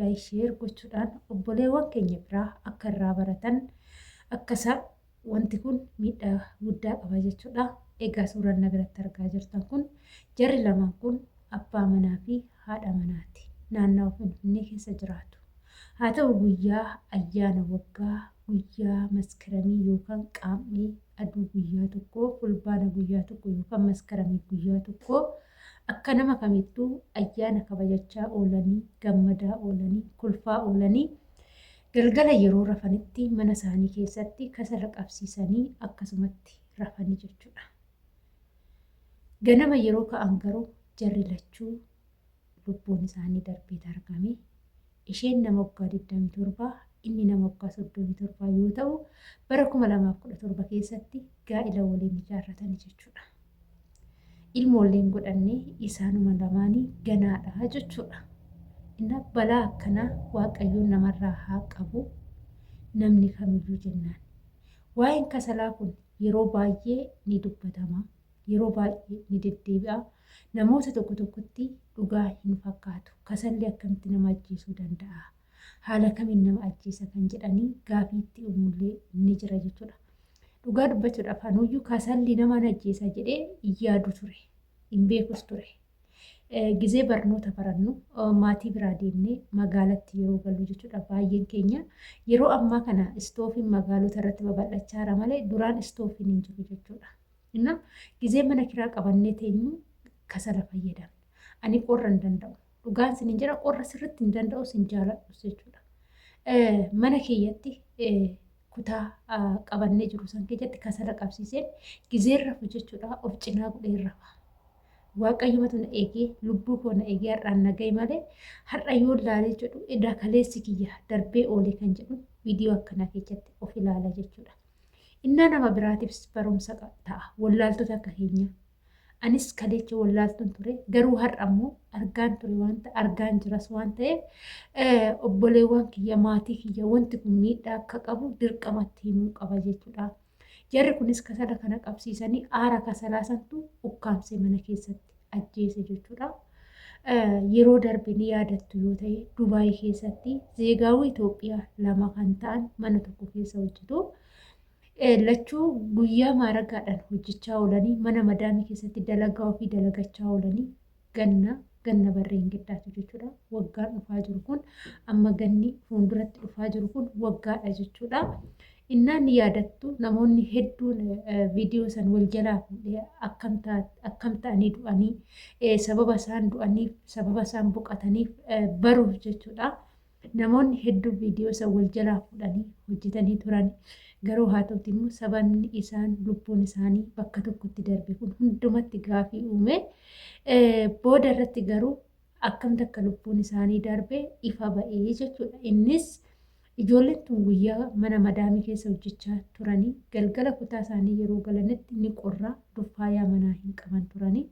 like share gochuudhaan obboleewwan keenya biraa akka irraa baratan akka isaan wanti kun miidhaa guddaa qaba jechuudha. Egaa suuraan na biratti argaa jirtan kun jarri lamaan kun abbaa manaa fi haadha manaati. Naannawa Finfinnee keessa jiraatu. Haa ta'u guyyaa ayyaana waggaa guyyaa maskaramii yookaan qaam'ee aduu guyyaa tokko fulbaana guyyaa tokko yookaan maskaramii guyyaa tokko Akka nama kamittuu ayyaana kabajachaa oolanii, gammadaa oolanii, kolfaa oolanii galgala yeroo rafanitti mana isaanii keessatti kasala qabsiisanii akkasumatti rafani jechuudha. Ganama yeroo ka'an garuu jarri lachuu lubbuun isaanii darbeet argame. Isheen nama waggaa 27, inni nama waggaa 37 yoo ta'u, bara 2017 keessatti gaa'ila waliin ijaarratani jechuudha. Ilmoollee hin godhanne, isaanuma lamaanii ganaadha jechuudha. Inna balaa akkanaa Waaqayyoon namarraa haa qabu namni kamiyyuu jennaan. Waa'een kasalaa kun yeroo baay'ee ni dubbatama. yeroo baay'ee ni deddeebi'a. Namoota tokko tokkotti dhugaa hin fakkaatu. Kasalli akkamitti nama ajjeesuu danda'a? Haala kamiin nama ajjeesa kan jedhanii gaafii itti uumullee ni jira jechuudha. Dhugaa dubbachuudhaaf anuyyuu kasalli nama hin ajjeesa jedhee hin yaadu ture. Hin beekus ture. Gizee barnoota barannu maatii biraa deemnee magaalatti yeroo gallu jechuudha baay'een keenya. Yeroo ammaa kana istoofiin magaalota irratti babal'achaara malee duraan istoofiin hin jiru jechuudha. እና ጊዜ mana kiraa qabannee teenyu kasala fayyadamna. Ani qorra hin danda'u. Dhugaan sin hin jira qorra sirritti hin danda'u sin jaaladhu jechuudha. Mana kiyyatti kutaa qabannee jiru san keessatti kasala qabsiiseen gizeerra hojjechuudha of cinaa godheerra. Waaqayyoomatu na eegee lubbuu koo na eegee har'aan na gahe malee har'a yoo ilaalee jedhu edaa kaleessi kiyya darbee oolee kan jedhu viidiyoo akkanaa keessatti of ilaala jechuudha. Innaa nama biraatiifis barumsa ta'a. Wallaaltota akka keenya. Anis kaleecha wallaaltuun ture garuu har'a immoo argaan ture waan ta'e argaan jiras waan ta'eef obboleewwan kiyya maatii kiyya wanti kun miidhaa akka qabu dirqamatti himuu qaba jechuudha. Jarri kunis kasala kana qabsiisanii aara kasalaa santu ukkaamsee mana keessatti. ajjeese jechuudha. Yeroo darbe ni yaadattu yoo ta'e Dubaay keessatti zeegaawuu Itoophiyaa lama kan ta'an mana tokko keessa hojjetu. Lachuu guyyaa maaragaadhaan hojjechaa oolanii mana madaamii keessatti dalagaa ofii dalagachaa oolanii ganna ganna barreen giddaatu jechuudha. Waggaan dhufaa jiru kun amma ganni fuulduratti dhufaa jiru kun waggaadha jechuudha. Innaa ni yaadattu namoonni hedduun viidiyoo san wal jalaa fuudhee akkam ta- akkam ta'anii du'anii eh, sababa isaan du'aniif sababa isaan boqataniif eh, baruuf jechuudha. Namoonni hedduu viidiyoo san wal jalaa fuudhanii hojjetanii turan. Garuu haa ta'uti immoo sababni isaan lubbuun isaanii bakka tokkotti darbe kun hundumatti gaafii uume. Eh, Booda irratti garuu akkamti akka lubbuun isaanii darbe ifa ba'ee jechuudha. Innis Ijoolleen tun guyyaa mana madaamii keessa hojjechaa turanii galgala kutaa isaanii yeroo galanitti ni qorra, duffaayaa manaa hin qaban turanii,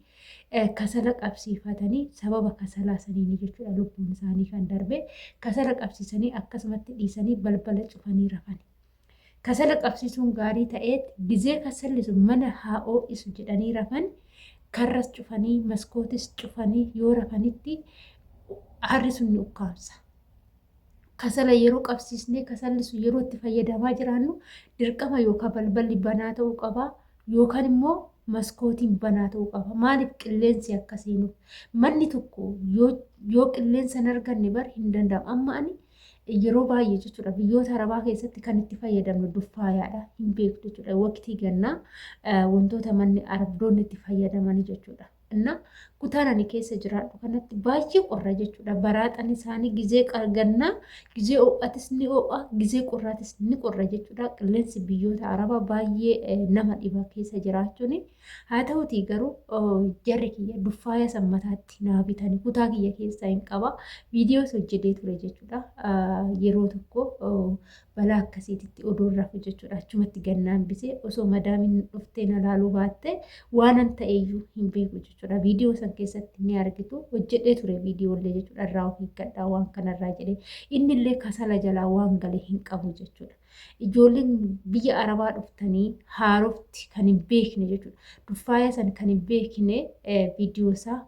kasala qabsiifatanii sababa kasalaa saniini jechuudha lubbuun isaanii kan darbe. Kasala qabsiisanii akkasumatti dhiisanii balbala cufanii rafani. Kasala qabsiisuun gaarii ta'eet gizee kasalli sun mana haa oo'isu jedhanii rafan karras cufanii maskootis cufanii yoo rafanitti aarri sun ni ukkaamsa. kasala yeroo qabsiisnee kasalli sun yeroo itti fayyadamaa jiraannu dirqama yookaan balballi banaa ta'uu qaba yookaan immoo maskootiin banaa ta'uu qaba. Maaliif qilleensi akka seenuuf. Manni tokko yoo qilleensa hin arganne bar hin danda'amu. Amma ani yeroo baay'ee jechuudha biyyoota arabaa keessatti kan itti fayyadamnu duffaayaadha hin beektu jechuudha waqtii gannaa wantoota manni arabdoonni itti fayyadamanii jechuudha. ganna kutaan ani keessa jiraadhu kanatti baay'ee qorra jechuudha. Baraaxan isaanii gizee gannaa, gizee ho'atis ni ho'a, gizee qorraatis ni qorra jechuudha. Qilleensi biyyoota Arabaa baay'ee eh, nama dhiba keessa jiraachuun. Haa ta'utii garuu oh, jarri kiyya duffaaya san mataatti naa bitanii kutaa kiyya keessaa hin qaba. Viidiyoos hojjetee ture jechuudha. Ah, Yeroo tokko oh, balaa akkasiititti odoon rafu jechuudha achumatti gannaan bisee osoo madaamin dhuftee na laaluu baattee waanan ta'eyyuu hin beeku jechuudha viidiyoo san keessatti ni argitu hojjedhee ture viidiyoollee jechuudha irraa of eeggadhaa waan kanarraa jedhee innillee kasala jalaa waan galee hin qabu jechuudha. Ijoolleen biyya arabaa dhuftanii haarofti kan hin beekne jechuudha. Duffaayaa san kan hin beekne viidiyoo isaa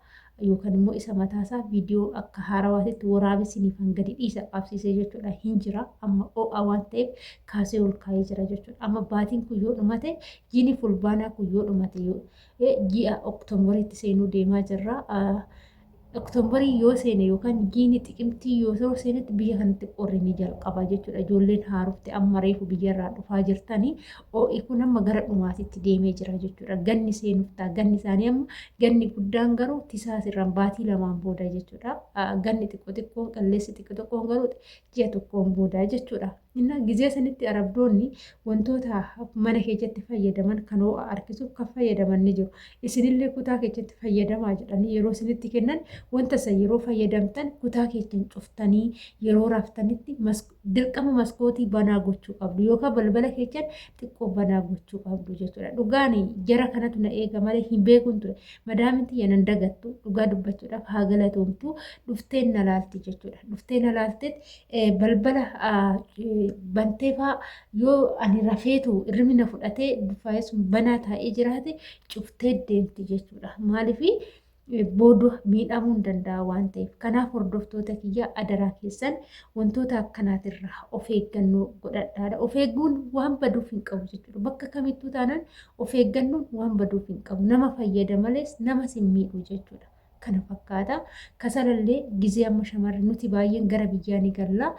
yookan immoo isa mataa isaa video akka haarawaatitti waraabee siniifan gadi dhiisa qabsiisee jechuudha hin jira amma oo'a waan ta'eef kaasee ol kaa'ee jira jechuudha amma baatiin kun yoo dhumate jiini fulbaanaa kun yoo dhumate yoo eh, ji'a oktoombariitti seenuu deemaa jirra Ah, oktoobarii yoo seene yookaan jiini xiqimtii yoo yeroo seenetti biyya kanatti qorri ni jalqaba jechuudha ijoolleen haarofte amma reefu biyyarraa dhufaa jirtanii Ho'i kun amma gara dhumaatitti deemee jira jechuudha. Ganni seenuuf ta'a. Ganni isaanii amma ganni guddaan garuu tisaas irraan baatii lamaan booda jechuudha. Ganni xiqqoo xiqqoon qalleessi xiqqoo xiqqoon garuu ji'a tokkoon booda jechuudha. Innaa gizee sanitti arabdoonni wantoota mana keessatti fayyadaman kan ho'a harkisuuf kan fayyadaman ni jiru. Isinillee kutaa keessatti fayyadamaa jedhanii yeroo isinitti kennan wanta isa yeroo fayyadamtan kutaa keessan cuftanii yeroo raaftanitti dirqama maskootii banaa gochuu qabdu yookaan balbala keessan xiqqoo banaa gochuu qabdu jechuudha. Dhugaan jara kanatu na eega malee hin beekun ture. Madaamin tiyya nan dagattu dhugaa dubbachuudhaaf haa galatoomtu dhufteen na laalti jechuudha. Dhuftee na laalteet balbala banteefaa yoo ani rafeetu irrimi na fudhatee faayisuun banaa taa'ee jiraate cuftee deemti jechuudha. Maaliifii? booda miidhamuun danda'a waan ta'eef kanaaf hordoftoota kiyyaa adaraa keessan wantoota akkanaatirraa of eeggannoo godhadhaadha. Of eegguun waan baduuf hin qabu jechuudha. Bakka kamittuu taanaan of eeggannoon waan baduuf hin qabu. Nama fayyada malees nama sin miidhu jechuudha. Kana fakkaata. Kasalallee gizee amma shamarri nuti baay'een gara biyyaa ni galla.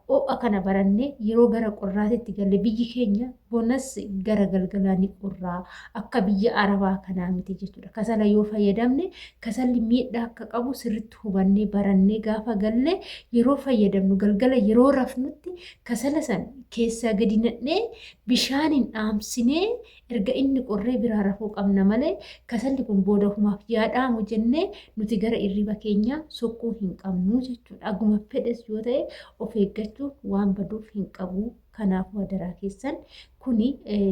Ho'a kana barannee yeroo gara qorraatitti galle biyyi keenya bonas gara galgalaa ni qorraa akka biyya arabaa kanaa miti jechuudha. Kasala yoo fayyadamne kasalli miidhaa akka qabu sirritti hubannee barannee gaafa galle yeroo fayyadamnu galgala yeroo rafnutti kasala san keessaa gadi nadhee bishaaniin dhaamsinee Erga inni qorree biraa rafuu qabna malee kasalli kun booda humaaf yaa dhaamu jennee nuti gara irriba keenyaa sokkuu hin qabnu jechuudha. Aguma fedhes yoo ta'e of eeggachuun waan baduuf hin qabu. Kanaafuu hadaraa keessan kuni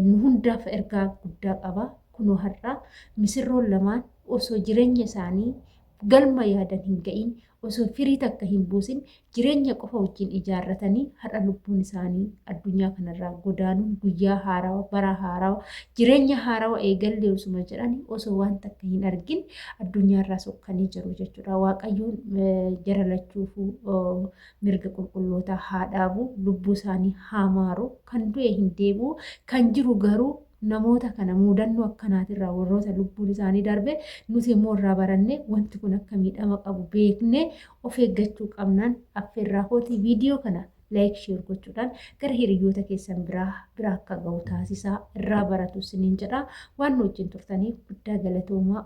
nu hundaaf ergaa guddaa qaba. Kunoo har'aa misirroon lamaan osoo jireenya isaanii galma yaadan hin ga'iin osoo firii takka hin buusin jireenya qofa wajjin ijaarratanii har'a lubbuun isaanii addunyaa kanarraa godaanuun guyyaa haarawa bara haarawa jireenya haarawa eegallee osuma jedhanii osoo waan takka hin argin addunyaarraa sokkanii jiru jechuudha waaqayyoon jara lachuufuu mirga qulqullootaa haa dhaabu lubbuu isaanii haa maaru kan du'e hin deebi'u kan jiru garuu Namoota kana muudannoo akkanaatirraa warroota lubbuun isaanii darbe nuti immoo irraa barannee wanti kun akka miidhama qabu beeknee of eeggachuu qabnaan affeerraa kooti viidiyoo kana like share gochuudhaan gara hiriyyoota keessan biraa biraa akka ga'u taasisaa irraa baratu isiniin jedha waan nu wajjin turtaniif guddaa galatoomaa